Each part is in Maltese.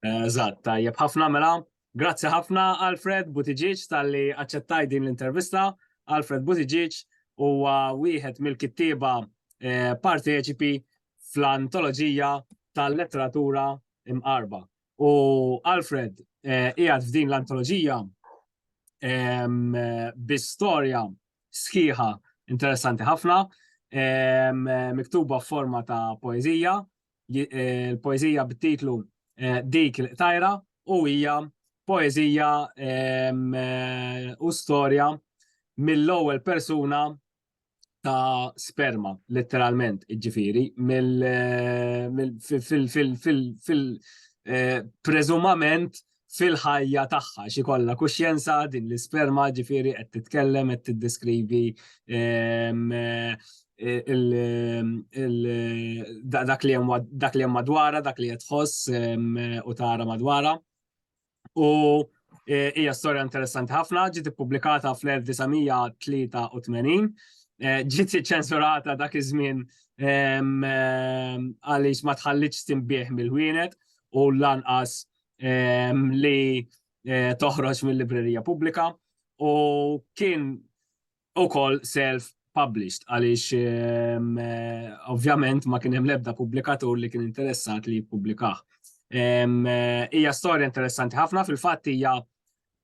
Eżatt, tajjeb ħafna mela. Grazzi ħafna Alfred Buttigieg talli aċċettaj din l-intervista. Alfred Buttigieg huwa wieħed mill-kittieba eh, parteċipi fl-antoloġija tal-letteratura imqarba. U Alfred eh, qiegħed f'din l-antoloġija bi storja sħiħa interessanti ħafna, miktuba f'forma ta' poezija, l-poeżija bit-titlu Dik il-qtajra u hija poeżija u storja mill-ewwel persuna ta' sperma, letteralment, ġifiri, fil-prezumament fil-ħajja tagħha xi kollha kuxjenza din l-isperma ġifieri qed titkellem qed tiddeskrivi ehm, eh, dak li hemm madwara, dak li qed tħoss ehm, u tara madwara. U eh, hija storja interessanti ħafna, ġiet ippubblikata fl-1983, eh, ġiet ċensurata dak iż-żmien ehm, għaliex ma tħallitx timbieħ mill-wienet u lanqas li eh, toħroġ mill-librerija pubblika u kien ukoll self published għaliex ehm, eh, ovvjament ma kien hemm l-ebda pubblikatur li kien interessat li jippublikaħ. Ehm, eh, hija storja interessanti ħafna fil-fatt hija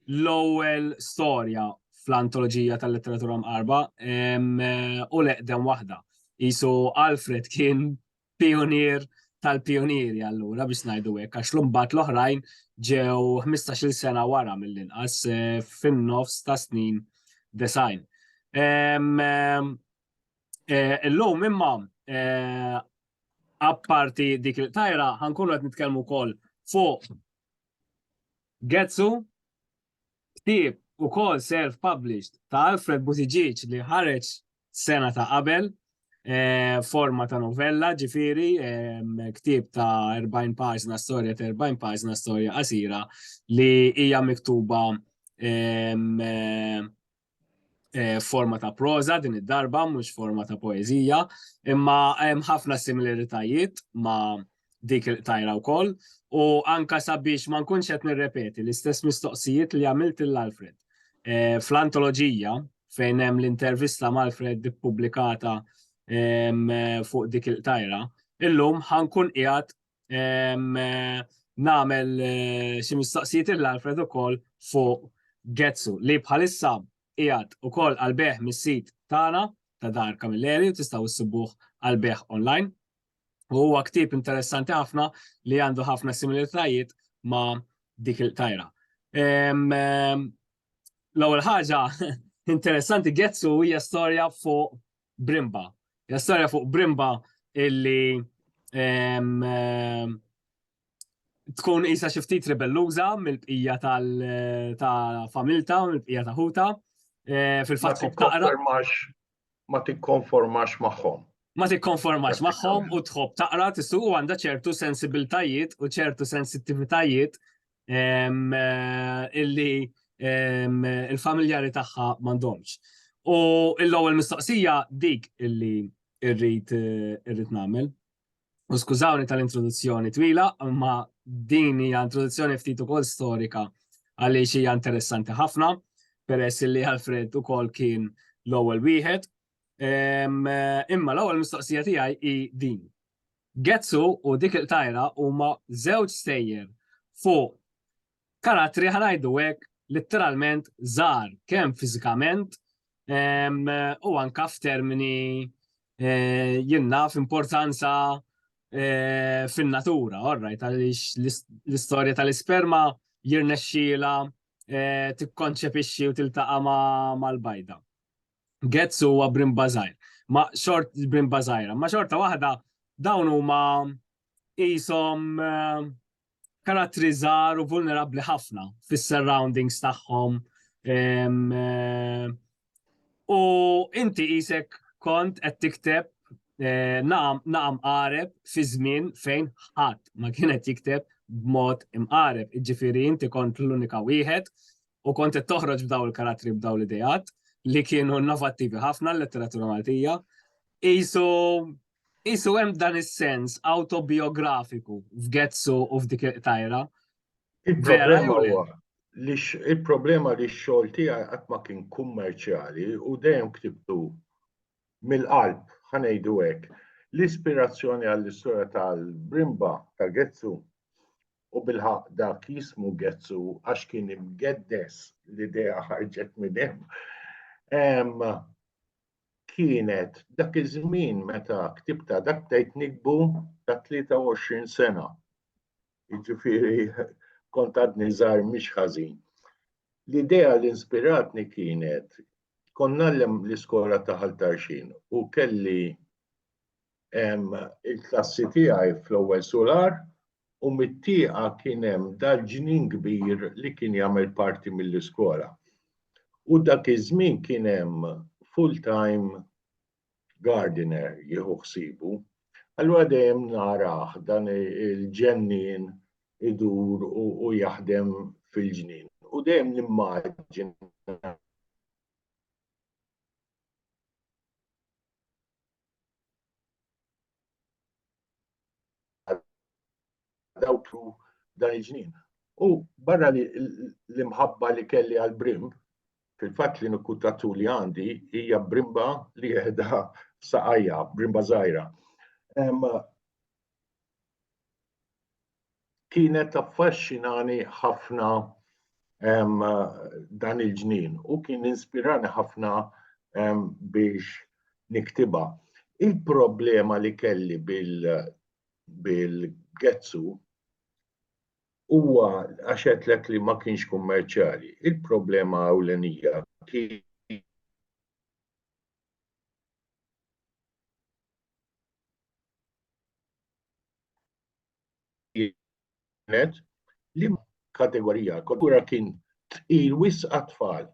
l-ewwel storja fl-antoloġija tal-letteratura mqarba ehm, eh, u leqdem waħda. Isu Alfred kien pijunier tal-pijunieri allura biex ngħidu hekk għax l-imbagħad l-oħrajn ġew 15-il sena wara mill-inqas eh, fin-nofs ta' snin design. Eh, illum imma eh, apparti dik il-tajra ħankunu qed nitkellmu wkoll fuq Getsu Ktieb ukoll self-published ta' Alfred Buttigieg li ħareġ sena ta' qabel, forma ta' novella, ġifieri ktieb ta' 40 paġna, storja ta' 40 paġna, storja qasira li hija miktuba forma ta' proża din id-darba mhux forma ta' poeżija, imma hemm ħafna similaritajiet ma' dik il-qtajra wkoll u anka sabiex ma nkunx qed nirrepeti l-istess mistoqsijiet li għamilt lil Alfred. Fl-antoloġija fejn hemm l-intervista ma' Alfred ippubblikata fuq dik il-qtajra, illum ħankun qiegħed namel eh, xi mistaqsijiet il Alfred ukoll fuq Getsu li bħalissa qiegħed ukoll għalbeħ mis-sit tagħna ta' Dar Kamilleri u tistgħu ssibuh għalbeħ online. U huwa ktib interessanti ħafna li għandu ħafna similitajiet ma' dik il-tajra. L-ewwel ħaġa interessanti Getsu hija storja fuq Brimba. Hija storja fuq Brimba illi tkun isa xi ftit ribelluża mill-bqija tal-familta, mill-bqija ta' ħuta. Eh, fil-fatt tkun taqra. Ma tikkonformax magħhom. Ma tikkonformax magħhom u tħobb taqra tissu u għandha ċertu sensibiltajiet u ċertu sensittivitajiet illi il-familjari tagħha m'għandhomx. U l-ewwel mistoqsija dik illi irrid irrid nagħmel. U skużawni tal-introduzzjoni twila, ma din hija introduzzjoni ftit ukoll storika għaliex hija interessanti ħafna, peress li Alfred ukoll kien l-ewwel wieħed Imma l-ewwel mistoqsija tiegħi hi din. Getsu u dik il-tajra huma żewġ stejjer fuq karattri ħanajdu hekk litteralment żgħar kemm fiżikament u anka f'termini eh, jinna f'importanza eh, fin-natura, orrajt, għaliex l-istorja tal-isperma jirnexxila eh, tikkonċepixxi u tiltaqa' mal-bajda. Getz huwa brimba żgħir. Ma xort brimba żgħira, ma xorta waħda dawn huma qishom eh, karattri żgħar u vulnerabbli ħafna fis-surroundings tagħhom. Eh, u inti qisek kont qed tikteb eh, naqam qareb fi żmien fejn ħadd ma kienet jikteb b'mod imqareb. Ġifieri inti kont l-unika wieħed u kont qed toħroġ b'daw il-karattri b'daw l-idejat li kienu innovattivi ħafna l-letteratura Maltija. Isu isu hemm dan is-sens autobiografiku f'Getsu u f'dik tajra. Il-problema li x-xogħol tiegħi qatt ma kien kummerċjali u dejjem ktibtu mill-qalb, ħa ngħidu hekk, l-ispirazzjoni għall-istorja tal-brimba ta' Getzu u bilħaqq dak jismu Getzu għax kien imgeddes l-idea ħarġet minn hemm kienet dak iż-żmien meta ktibta dak tgħid nikbu ta' 23 sena. Jiġifieri kont għadni żgħar mhix ħażin. L-idea li inspiratni kienet kont nagħllem l-iskola ta' Ħal Tarxin u kelli il-klassi tiegħi fl-ewwel sular u mit-tieqa kien hemm dal-ġnien kbir li kien jagħmel parti mill-iskola. U dak iż-żmien kien hemm full-time gardener jieħu ħsibu, allura dejjem narah dan il-ġennin idur u jaħdem fil-ġnien. U dejjem nimmaġin dawk u dan il-ġnien. U barra li l-imħabba li kelli għal brim, fil-fatt li nukkutatu li għandi hija brimba li jehda saqajja, brimba zaħira. kienet affaxxinani ħafna dan il-ġnien u kien inspirani ħafna biex niktiba. Il-problema li kelli bil-gezzu huwa għaxet lek li ma kienx kummerċjali. Il-problema ewlenija kien kienet li kategorija kultura kien tqil wis għat-tfal.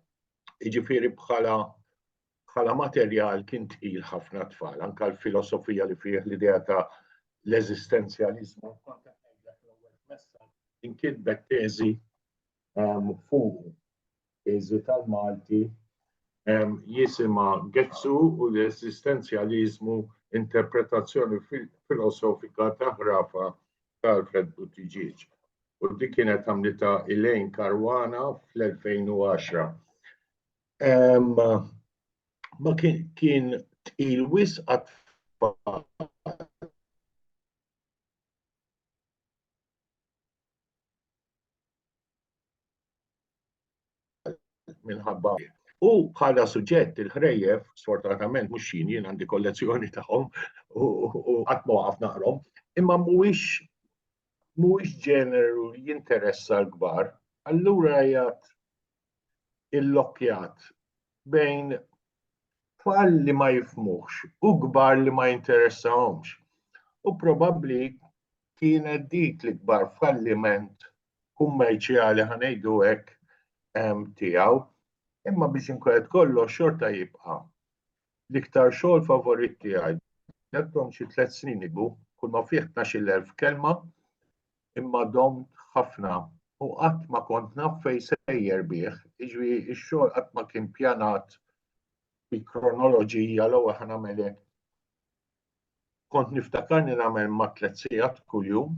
Jiġifieri bħala bħala materjal kien tqil ħafna tfal, anka l-filosofija li fih l-idea ta' l-eżistenzjaliżmu inkitbet teżi fuq. Iż-żi tal-Malti jisimha Gezzu u l-eżistenzjaliżmu interpretazzjoni filosofika ta' ħrafa ta' Alfred Buttigieg u dik kienet għamlitha Elaine Caruana fl-2010. Ma kien kien tqil wisq għat-tfal minħabba U bħala suġġett il-ħrejjef, sfortunatament mhux xini, jien għandi kollezzjoni tagħhom u qatt ma waqaf naqrom, imma mhuwiex mhuwiex ġeneru li jinteressa l-kbar, allura jgħat il-lokjat bejn tfal li ma jifmuħx u kbar li ma jinteressahomx. U probabbli kienet dik li kbar falliment kummerċjali ħanejdu hekk tiegħu. Imma biex inkwelet kollox xorta jibqa' l-iktar xogħol favorit tiegħi. Nettom xi tliet snin igu, kull ma fih 12,000 kelma, imma domt ħafna u qatt ma kont naf fejn sejjer bih, jiġri x-xogħol qatt ma kien pjanat bi kronoloġija l-ewwel ħa nagħmel hekk. Kont niftakarni nagħmel ma' tliet sigħat kuljum,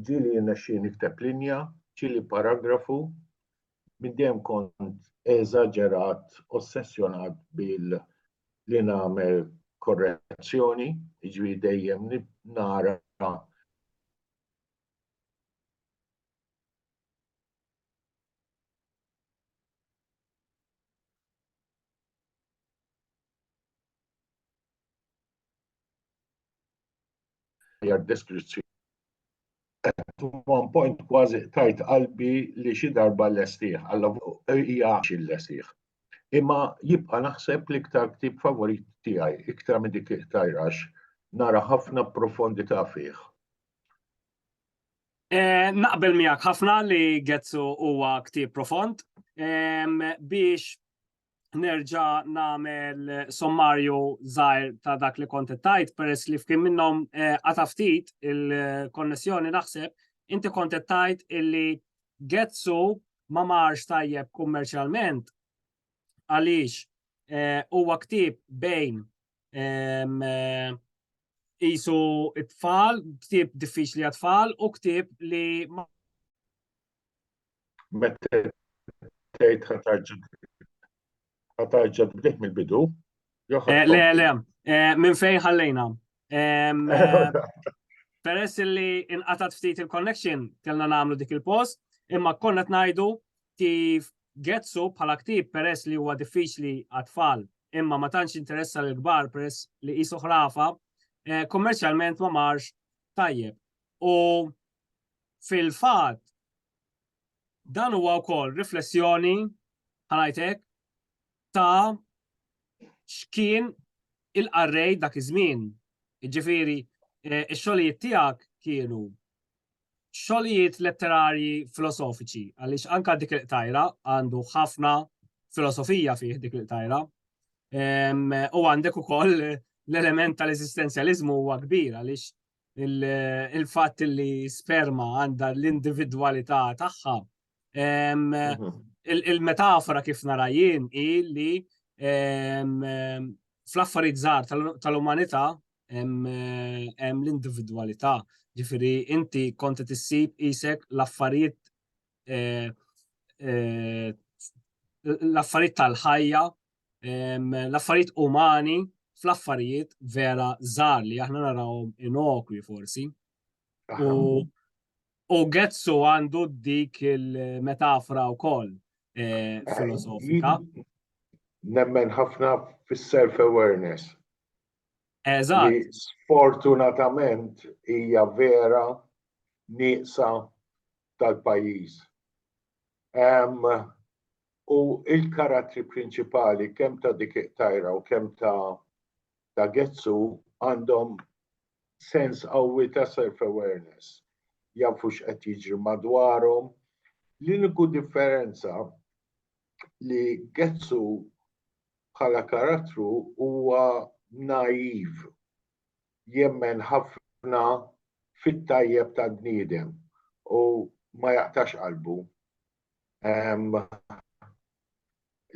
ġieli jirnexxi nikteb linja, ġieli paragrafu, Minn dejjem kont eżaġerat, ossessjonat bil li nagħmel korrezzjoni, jiġifieri dejjem nara hija deskrizzjoni. At one point kważi tajt qalbi li xi darba l-lestih, għalla hija xi l-lestih. Imma jibqa' naħseb l-iktar ktib favorit tiegħi, iktar minn dik tajrax, nara ħafna profondità fih. Eh, naqbel miegħek ħafna li Getzu huwa ktib profond. Biex nerġa namel sommarju zaħir ta' dak li konti tajt, peress li fkim minnom eh, għataftit il-konnessjoni naħseb, inti konti tajt illi Getsu ma marx tajjeb kummerċjalment għaliex eh, huwa ktib bejn ehm, eh, isu it-tfal, ktib diffiċli għat-tfal u ktib li Meta tgħid ħa tarġa' ħa tarġa' tbdih mill-bidu. Le, le, minn fejn ħallejna. Peress li inqatat ftit il-connection kellna nagħmlu dik il-post, imma konna qed ngħidu kif Getsu bħala ktieb peress li huwa diffiċli għat-tfal imma ma tantx interessa lil kbar peress li qisu ħrafa, kummerċjalment ma marx tajjeb. U Fil-fatt, dan huwa wkoll riflessjoni ħanajtek ta' x'kien il-qarrej dak iż-żmien. Ġifieri, eh, ix-xogħlijiet tiegħek kienu xogħlijiet letterarji filosofiċi, għaliex anka dik il-qtajra għandu ħafna filosofija fih dik il-qtajra. U għandek ukoll l-element tal-eżistenzjaliżmu huwa kbir għaliex il-fatt li sperma għandha l-individwalità tagħha. Mhm. Il-metafora kif narajin hi li fl-affarijiet żgħar tal-umanità hemm l-individwalità. Ġifieri inti konti tissib isek l-affarijiet eh, eh, l-affarijiet tal-ħajja l-affarijiet umani fl-affarijiet vera żgħar li aħna narawhom inokwi forsi. U u Getsu għandu dik il-metafora wkoll eh, eh, filosofika. Nemmen ħafna fis-self awareness. Eżatt. Sfortunatament hija vera nieqsa tal-pajjiż. U l-karattri prinċipali kemm ta' dik it-tajra u kemm ta' ta' Getsu għandhom sens qawwi ta' self-awareness. Jafu x'qed jiġri madwarhom. L-uniku differenza li Getsu bħala karattru huwa naiv, jemmen ħafna fit-tajjeb tal-bniedem u ma jaqtax qalbu.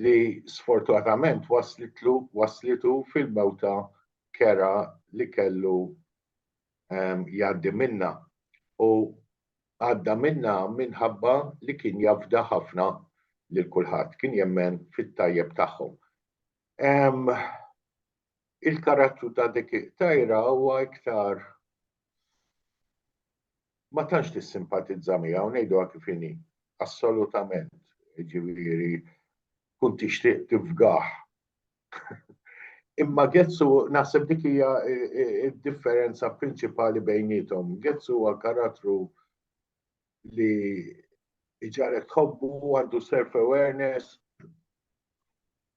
li sfortunatament waslitlu waslitu fil-mewta kera li kellu jgħaddi minnha u għadda minnha minħabba li kien jafda ħafna lil kulħadd, kien jemmen fit-tajjeb tagħhom. Il-karattru ta' dik it-tajra huwa iktar ma tantx tissimpatizza miegħu ngħiduha kif inhi. Assolutament. Jiġifieri tkun tixtieq tifgah. Imma Gezzu naħseb dik hija d-differenza prinċipali bejniethom. Gezzu huwa karattru li ġaret ħobbu, għandu self-awareness.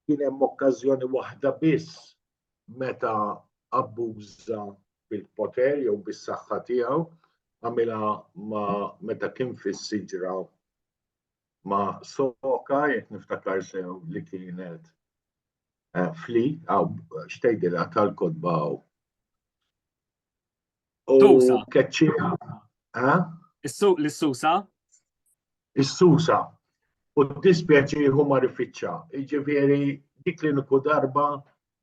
Kien hemm okkażjoni waħda biss meta abbuża bil-poter jew bis-saħħa tiegħu għamilha ma meta kien fis-siġra ma soka jekk niftakar sew li kienet eh, fli għaw xtejdilha tal-kodba Tusa. Keċċija. Eh? L-susa? Is-susa. U dispjaċi huma rifiċċa. Iġifieri dik li niku darba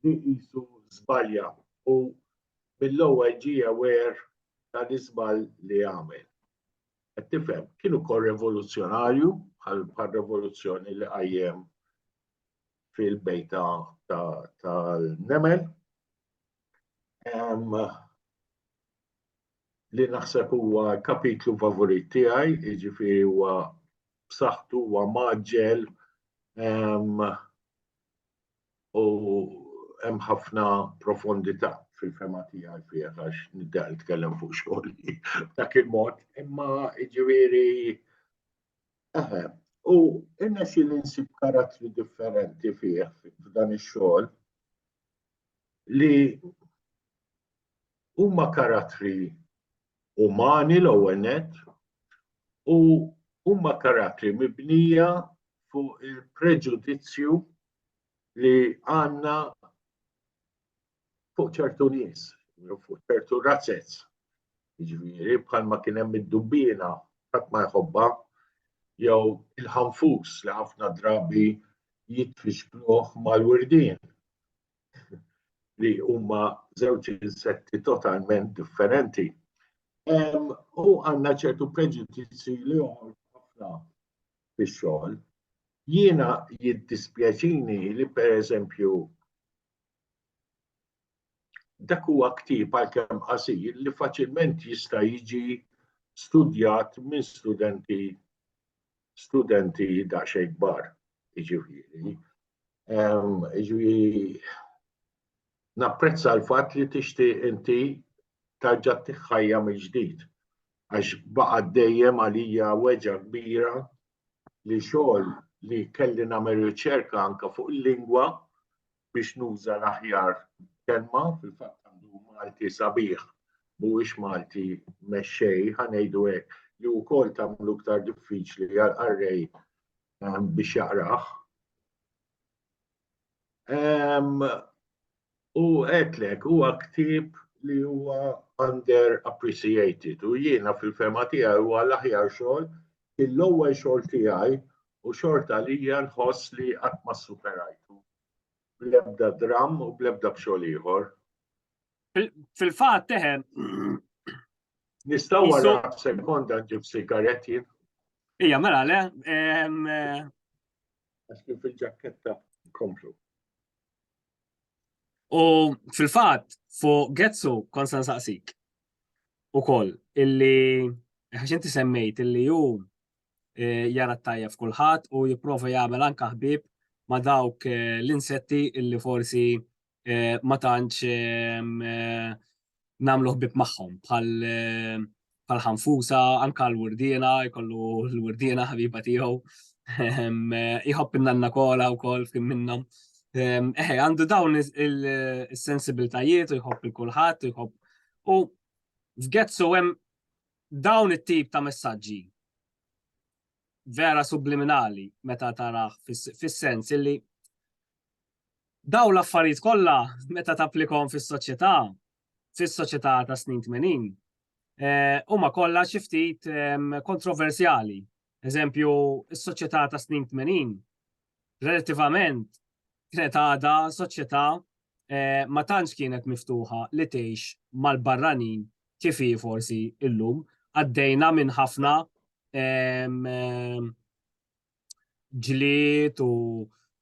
li qisu żbalja u mill-ewwel ġie aware tal-iżbal li għamel. Qed tifhem, kienu kol revoluzzjonarju bħal revoluzzjoni li qajjem fil-bejta tal-nemel li naħseb huwa kapitlu favorit tiegħi, jiġifieri huwa b'saħħtu huwa maġġel u hemm ħafna profondità fil-fema tiegħi fih għax nibda nitkellem fuq xogħol dak il-mod, imma jiġifieri eħe. U innexxi li nsib karattri differenti fih f'dan ix-xogħol li huma karattri umani l-ewwel net u huma karattri mibnija fuq il-preġudizzju li għandna fuq ċertu nies, fuq ċertu razzez. Ġifieri bħalma kien hemm id-dubbina ħadd ma jħobba jew il-ħanfus li ħafna drabi jitfixkluh mal-wirdin li huma żewġ insetti totalment differenti. U għandna ċertu preġudizzi li ħafna fix-xogħol. Jiena jiddispjaċini li pereżempju dak huwa ktieb għalkemm qasir li faċilment jista' jiġi studjat minn studenti studenti daqsxejn kbar, jiġifieri. Jiġifieri napprezza l-fatt li tixtieq inti tarġa' tiħħajja mill-ġdid għax baqa' dejjem għalija weġa' kbira li xogħol li kelli nagħmel riċerka anke fuq il-lingwa biex nuża l-aħjar kelma, fil-fatt għandu Malti sabiħ, mhuwiex Malti mexxej, ħa ngħidu hekk, li wkoll tagħmlu iktar diffiċli għal qarrej ehm, biex jaqrah. Ehm, u għetlek, huwa ktib li huwa under appreciated u jiena fil-fema tiegħi huwa l-aħjar xogħol il-ewwel xogħol tiegħi u xorta għalija nħoss li qatt ma ssuperajtu bl-ebda dramm u bl-ebda b'xogħol ieħor. Fil-fatt teħen. Nistgħu wara sekonda ġib sigaretti. Ija, mela le. Eh, Għax kien fil-ġakketta komplu. U fil-fatt fuq Getsu konsan saqsik u koll illi ħax inti semmejt illi ju jara t-tajjeb f'kulħadd u jipprova jagħmel anke ħbieb ma' dawk l-insetti illi forsi ma tantx nagħmlu ħbieb magħhom bħal ħanfusa, anke l-wurdiena, jkollu l-wurdiena ħabiba tiegħu. Iħobb in-nanna kola wkoll f'kim minnhom. Eħe, għandu dawn is-sensibiltajiet u jħobb il-kulħadd, jħobb. U f'Getsu hemm Dawn it-tip ta' messaġġi vera subliminali meta tarah fis-sens illi dawn l-affarijiet kollha meta tapplikhom fis-soċjetà, fis-soċjetà ta' snin tmenin, huma kollha xi ftit kontroversjali Eżempju, is-soċjetà ta' snin 80 relattivament kienet għadha soċjetà eh, ma tantx kienet miftuħa li tgħix mal-barranin kif hi forsi illum għaddejna minn ħafna ġliet u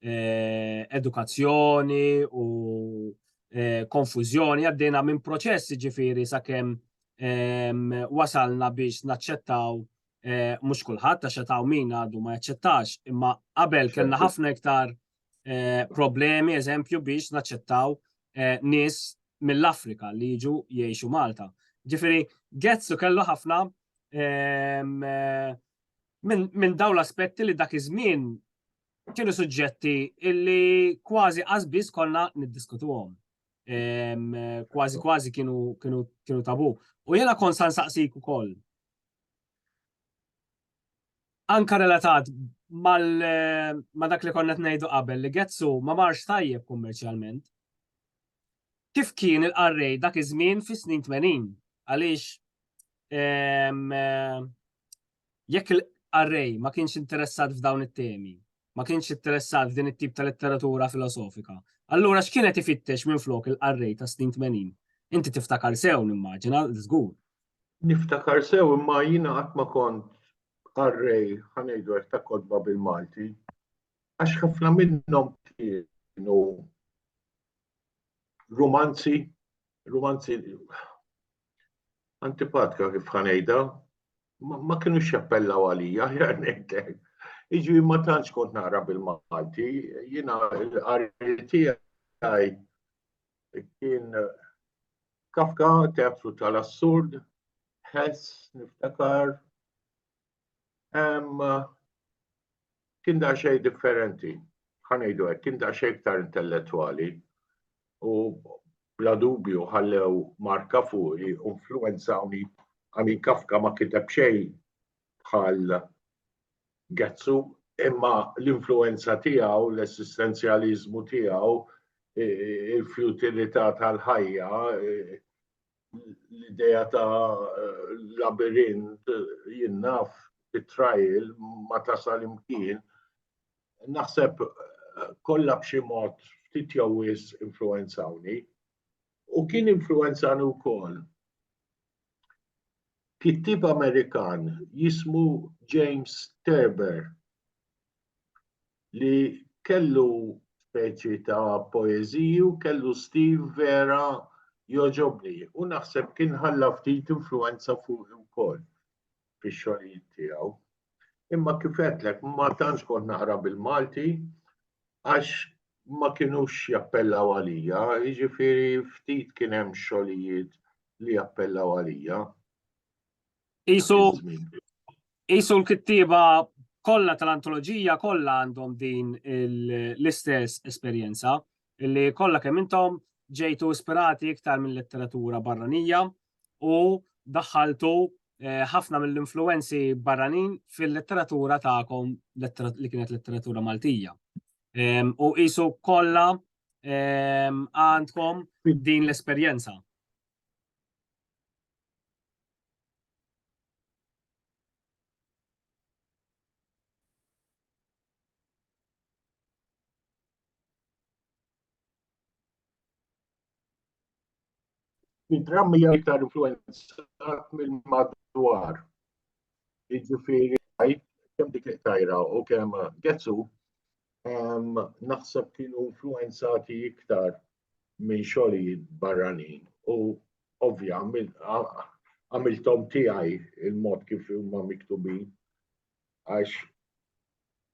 eh, edukazzjoni u eh, konfużjoni għaddejna minn proċessi ġifiri sakemm wasalna biex naċċettaw eh, mhux kulħadd għax qed min għadu ma jaċċettax, imma qabel kellna ħafna iktar eh, problemi eżempju biex naċċettaw eh, nies mill-Afrika li jiġu jgħixu Malta. Ġifieri Getzu kellu ħafna ehm, minn dawn l-aspetti li dak iż-żmien kienu suġġetti illi kważi qasbis konna niddiskutuhom. Kważi kważi kienu kienu kienu tabu. U jena kon san saqsik ukoll. Anka relatat ma dak li konna qed ngħidu qabel li Getsu ma marx tajjeb kummerċjalment. Kif kien il-qarrej dak iż-żmien fis-snin 80? Għaliex jekk il-qarrej ma kienx interessat f'dawn it-temi, ma kienx interessat f'din it-tip ta' letteratura filosofika, allura x'kienet ifittex minflok il-qarrej tas-snin 80? Inti tiftakar sew nimmaġina, żgur, Niftakar sew imma jiena qatt ma kont qarrej ħa ngħidu hekk ta' kotba bil-Malti għax ħafna minnhom kienu rumanzi, rumanzi antipatka kif ħa ngħidha, ma kienu xappellaw għalija, ħjar ngħidlek. Iġi ma tantx kont naqra bil-Malti, jiena l-qari tiegħi Kien Kafka, teatru tal-assurd, ħess, niftakar. Kien da xej differenti, ħanejdu għek, kien da xej ktar intellettuali u bla dubju ħallew marka fuqi u influenzawni għani Kafka ma kiteb xej bħal Getzu, imma l-influwenza tiegħu, l-essistenzjaliżmu tiegħu, il-fjutilità tal-ħajja, l-idea ta' labirint jinnaf it-trial ma tasal imkien, naħseb kollha b'xi mod ftit jew wis influwenzawni. U kien influwenzani wkoll Kittieb Amerikan jismu James Thurber li kellu speċi ta' poeżiji u kellu stil vera jogħġobni u naħseb kien ħalla ftit influwenza fuqi wkoll. fix-xogħlijiet tiegħu. Imma kif għedtlek ma tantx kont naqra bil-Malti għax ma kinux jappellaw għalija, jiġifieri ftit kien hemm xogħlijiet li jappellaw għalija. Isu isu l-kittieba kollha tal-antoloġija kollha għandhom din l-istess esperjenza li kollha kemm intom ġejtu ispirati iktar minn letteratura barranija u daħħaltu eh, ħafna mill-influenzi barranin fil-letteratura tagħkom li kienet letteratura Maltija. Ehm, u qisu kollha ehm, għandkom din l-esperjenza. Id-dramma hija iktar influenzat mill-madwar. Jiġifieri għajt kemm dik tajra u kemm Getsu naħseb kienu influenzati iktar minn xogħlijiet barranin u ovvja għamiltom tiegħi il-mod kif huma miktubin għax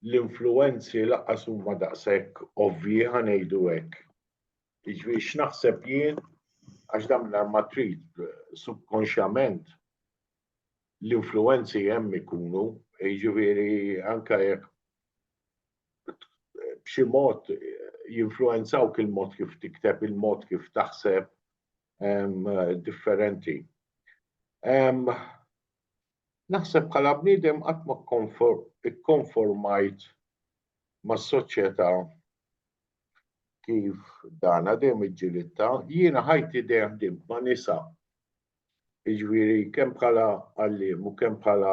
l-influenzi laqqas huma daqshekk ovvji ħanejdu hekk Iġvi x'naħseb jien għax dam l-arma trid subkonxjament l-influenzi hemm ikunu, jiġifieri anka jekk b'xi mod jinfluenzaw il-mod kif tikteb, il-mod kif taħseb differenti. Naħseb bħala bniedem qatt ma kkonformajt mas-soċjetà kif dana dejjem iġġilitta, jiena ħajti dejjem ħdimt ma' nisa. Jiġifieri kemm bħala għalliem u kemm bħala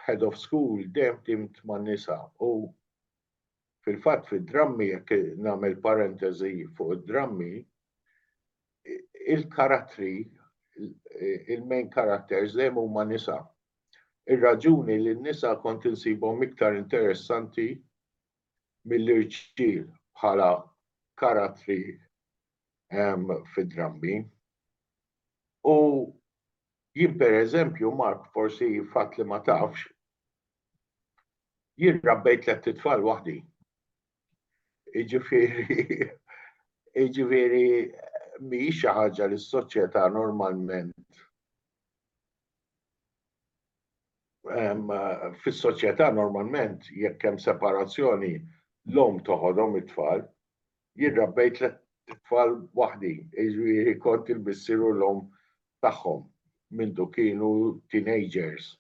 head of school dejjem ħdimt ma' nisa u fil-fatt fid-drammi jekk nagħmel parentesi fuq id-drammi il-karattri il-main characters dejjem huma nisa. Ir-raġuni li n-nisa kont insibhom iktar interessanti mill-irġiel bħala karattri fid-drammi. U jien per eżempju, Mark, forsi fatt li ma tafx, jien rabbejt let tfal waħdi. Iġifiri, iġifiri, mi xi ħaġa li s-soċjetà normalment fis-soċjetà normalment jekk hemm separazzjoni l-omm toħodhom it-tfal. Jien rabbejt tliet tfal waħdi, jiġifieri kont il-missier u l-omm tagħhom mindu kienu teenagers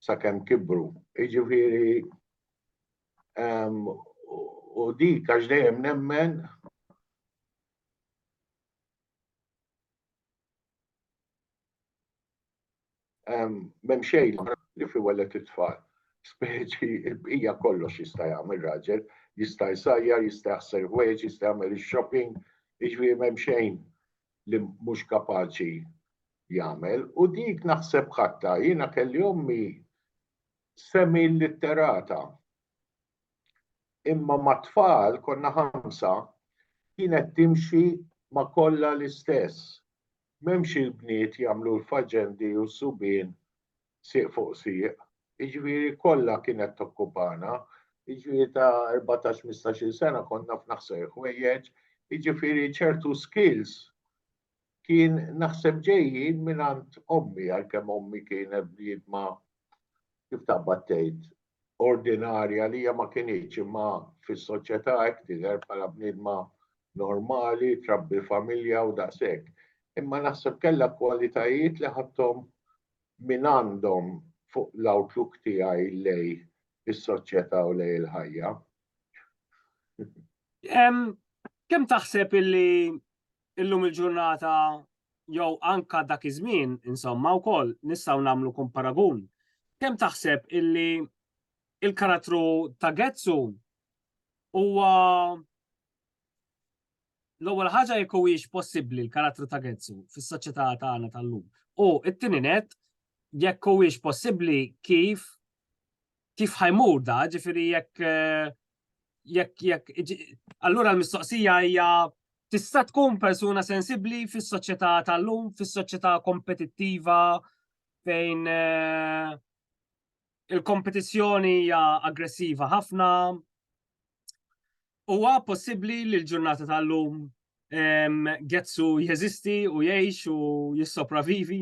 sakemm kibru. Jiġifieri u dik għax dejjem nemmen M'hemm xejn li fi wellet it-tfal. Speċi il-bqija kollox jista' jagħmel raġel, jista' jsajjar, jista' jaħsel ħwejġ, jista' jagħmel ix-shopping, jiġifieri m'hemm xejn li mhux kapaċi jagħmel. U dik naħseb ħatta, jiena kelli ommi semi litterata. Imma mat-tfal konna ħamsa kienet timxi ma' kollha l-istess. M'hemmx il-bniet jagħmlu l-faċendi u s-subien sieq fuq sieq. Jiġifieri kollha kienet tokkupana. Jiġifieri ta' erbatax mistax-il sena kont naf naħseb il-ħwejjeġ. Jiġifieri ċertu skills kien naħseb ġejjin mingħand ommi għalkemm ommi kienet bniedma kif taqbad tgħid ordinarja li hija ma kinitx imma fis-soċjetà hekk tidher bħala bniedma normali, trabbi familja u daqshekk. Imma naħseb kellha kwalitajiet li ħadthom minn għandhom fuq l-outlook tiegħi lej is-soċjetà u lej il-ħajja. Kemm taħseb illi illum il-ġurnata jew anka dak iż-żmien, insomma, wkoll nistgħu nagħmlu kum paragun. Kemm taħseb illi il-karattru ta' Getsu huwa l-ewwel ħaġa jekk huwiex possibbli l-karattru ta' Getsu fis-soċjetà tagħna tal-lum. U it-tieni net jekk huwiex possibbli kif kif ħajmur da, ġifieri jekk eh, jekk jekk allura l-mistoqsija hija tista' tkun persuna sensibbli fis-soċjetà tal-lum, fis-soċjetà kompetittiva fejn eh, il-kompetizzjoni hija aggressiva ħafna. Huwa possibbli li l-ġurnata tal-lum Getsu jeżisti u jgħix u jissopravivi?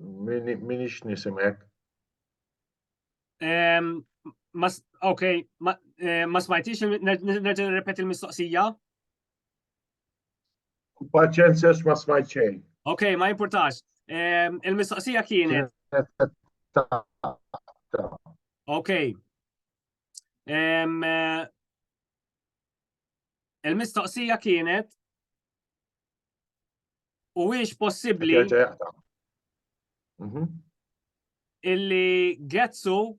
Min ix nisimek? Ok, eh, ma smajtix, nerġa nirrepeti l-mistoqsija? Paċenzja ma smajt xejn. Ok, ma importax. Il-mistoqsija kienet. Ok. Il-mistoqsija kienet Huwiex possibbli mhm. illi Getsu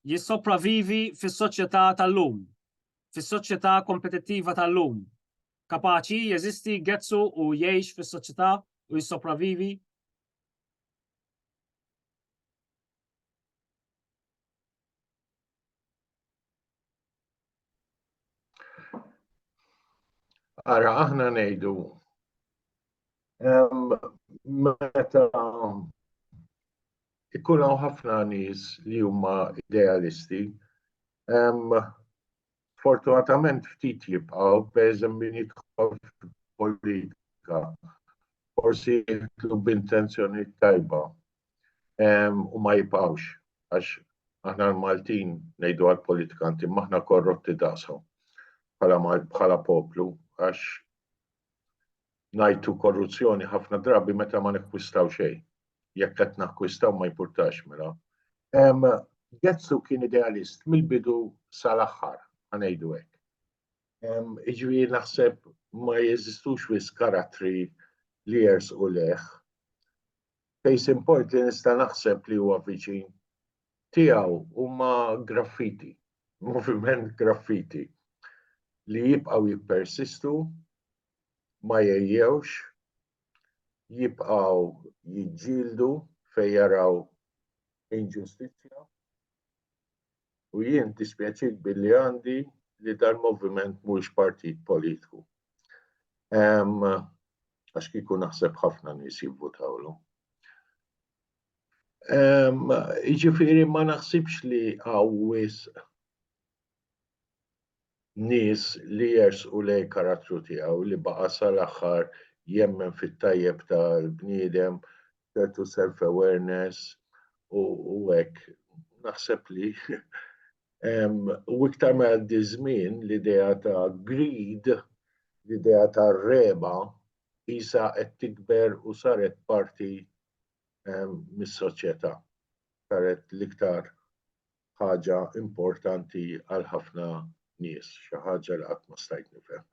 jissopravivi fis-soċjetà tal-lum, fis-soċjetà kompetittiva tal-lum. Kapaċi jeżisti Getsu u jgħix fis-soċjetà u jissopravivi? Ara, aħna ngħidu meta ikun hawn ħafna nies li huma idealisti, fortunatament ftit jibqgħu pereżem min jidħol politika forsi jitlu b'intenzjoni tajba. u ma jibqgħux għax aħna l-Maltin ngħidu għall-politikanti maħna korrotti daqshom bħala poplu għax ngħidu korruzzjoni ħafna drabi meta ma nikkwistaw xejn. Jekk qed nakkwistaw ma jpurtax mela. Getzu kien idealist mill-bidu sal-aħħar, għanejdu hekk. Iġri naħseb ma jeżistux wis karattri li jers u leħ Case in point li nista' naħseb li huwa viċin tiegħu huma graffiti, moviment graffiti li jibqgħu jippersistu, ma jgħejjewx, jibqgħu jiġġieldu fejn jaraw inġustizzja. u jien dispjaċit billi għandi li dal-moviment mhuwiex partit politiku. Għax kieku naħseb ħafna nies jivvutawlu. Jiġifieri ma naħsibx li hawn wisq nies li jersqu lejn karattru tiegħu li baqa' sal-aħħar jemmen fit-tajjeb tal-bniedem, ċertu self awareness u u hekk. Naħseb li u iktar ma jgħaddi ż-żmien l-idea ta' greed, l-idea tar-regħba qisha qed tikber u saret parti mis-soċjetà. Saret l-iktar ħaġa importanti għal ħafna nies, xi ħaġa li qatt ma stajt nifhem.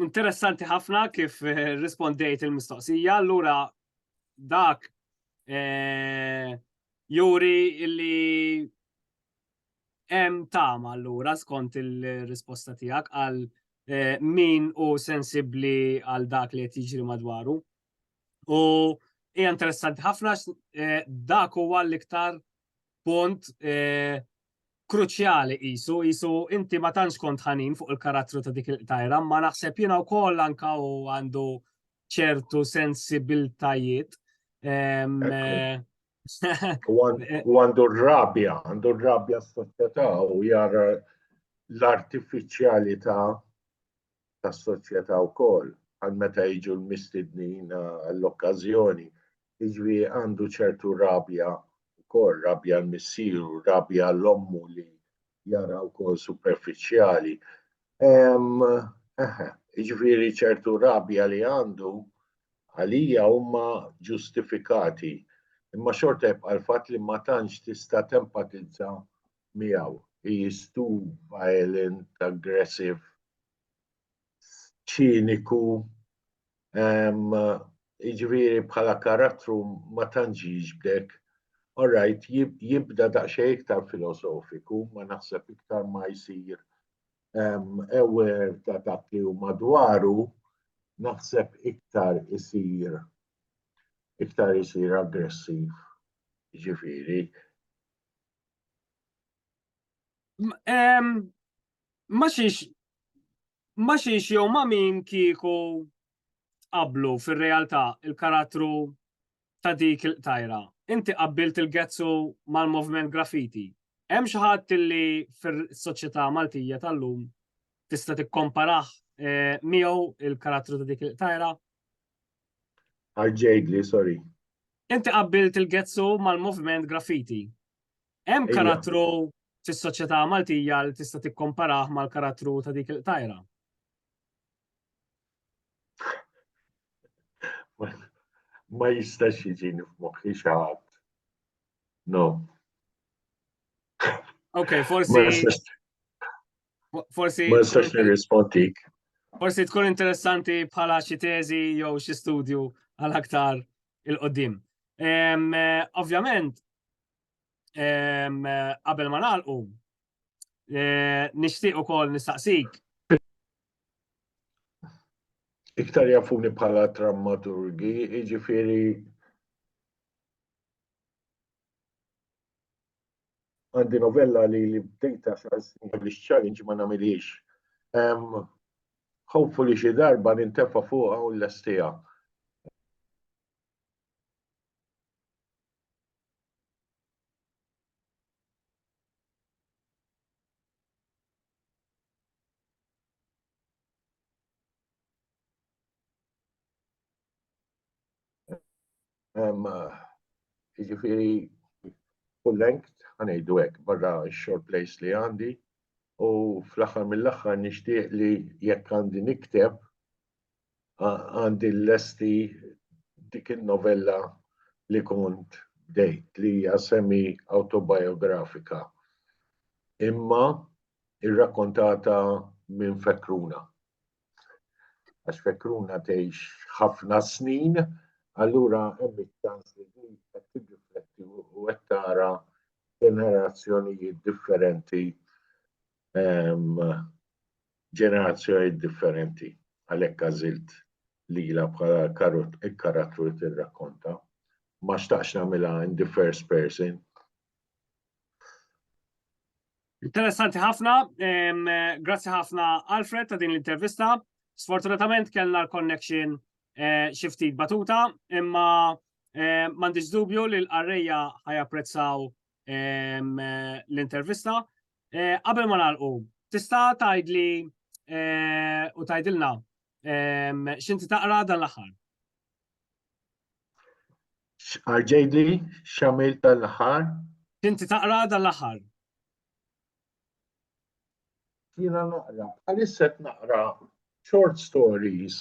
Interessanti ħafna kif eh, rispondejt il-mistoqsija, allura dak eh, juri illi hemm tama allura skont il-risposta tiegħek għal eh, min u sensibbli għal dak li qed jiġri madwaru. U hija interessanti ħafna eh, dak huwa l-iktar punt eh, kruċjali isu, isu inti ma tantx kont ħanin fuq il-karattru ta' dik il-tajra, ma naħseb jiena wkoll anka u għandu ċertu sensibiltajiet. Ehm, eh, u għandu r-rabja, għandu r-rabja s-soċjetà u jara l-artifiċjalità tas-soċjetà wkoll għal meta jiġu l-mistednin għall-okkażjoni. Jiġri għandu ċertu rabja wkoll, rabja l-missieru, rabja l-ommu li jara wkoll superfiċjali. Jiġri ċertu rabja li għandu għalija huma ġustifikati. Imma xorta jibqa' l-fatt li ma tantx tista' tempatizza miegħu. He is too violent, aggressive, ċiniku, jiġifieri bħala karattru ma tantx jiġbdek. All right, jibda daqsxejn iktar filosofiku, ma naħseb iktar ma jsir aware ta' dak li hu madwaru, naħseb iktar isir iktar isir aggressiv, jiġifieri. Ma xiex ma xiex jew ma min kieku qablu fir-realtà il-karattru ta' dik il-qtajra. Inti qabbilt il-gezzu mal-movement graffiti. Hemm xi ħadd li fis-soċjetà Maltija tal-lum tista' tikkomparah eh, miegħu il-karattru ta' dik il-qtajra? Arġejdli, sorry. Inti qabbilt il-gezzu mal-moviment graffiti. Hemm karattru fis-soċjetà Maltija li tista' tikkomparah mal-karattru ta' dik il-qtajra? Ma jistax jiġini f'moħħi xi ħadd. No. Ok, forsi. Forsi. Ma nistax nirrispondik. Forsi tkun interessanti bħala xi teżi jew xi studju għal aktar il-qoddim. Eh, ovvjament, eh, qabel ma nagħlqu, eh, nixtieq ukoll nistaqsik. Iktar jafuni bħala drammaturgi, jiġifieri Għandi novella li li bdejta xar snin qabel ix-challenge ma nagħmilhiex. Ħofu li xi darba nintefa' fuqha u nlestiha. Jiġifieri full length ħanejdu hekk barra x-short plays li għandi u fl-aħħar mill-aħħar nixtieq li jekk għandi nikteb għandi l-lesti dik il-novella li kont bdejt li hija semi autobiografika imma irrakkontata minn fekruna. Għax fekruna tgħix ħafna snin, allura hemm iċ-ċans li din qed tirrifletti u qed tara ġenerazzjonijiet differenti ehm, ġenerazzjonijiet differenti għalhekk għażilt lila bħala karattru li tirrakkonta. Ma xtaqx nagħmilha in the first person. Interessanti ħafna, grazzi ħafna Alfred ta' din l-intervista. Sfortunatament kellna l-connection eh, xi ftit batuta, imma eh, m'għandix dubju li l-qarrejja ħajapprezzaw eh, l-intervista. Qabel ma nagħlqu, tista' tgħidli u tgħidilna x'inti taqra dan l-aħħar. X'arġejli x'għamilt dan l-aħħar? X'inti taqra dan l-aħħar? Jiena naqra, bħalissa qed naqra short stories.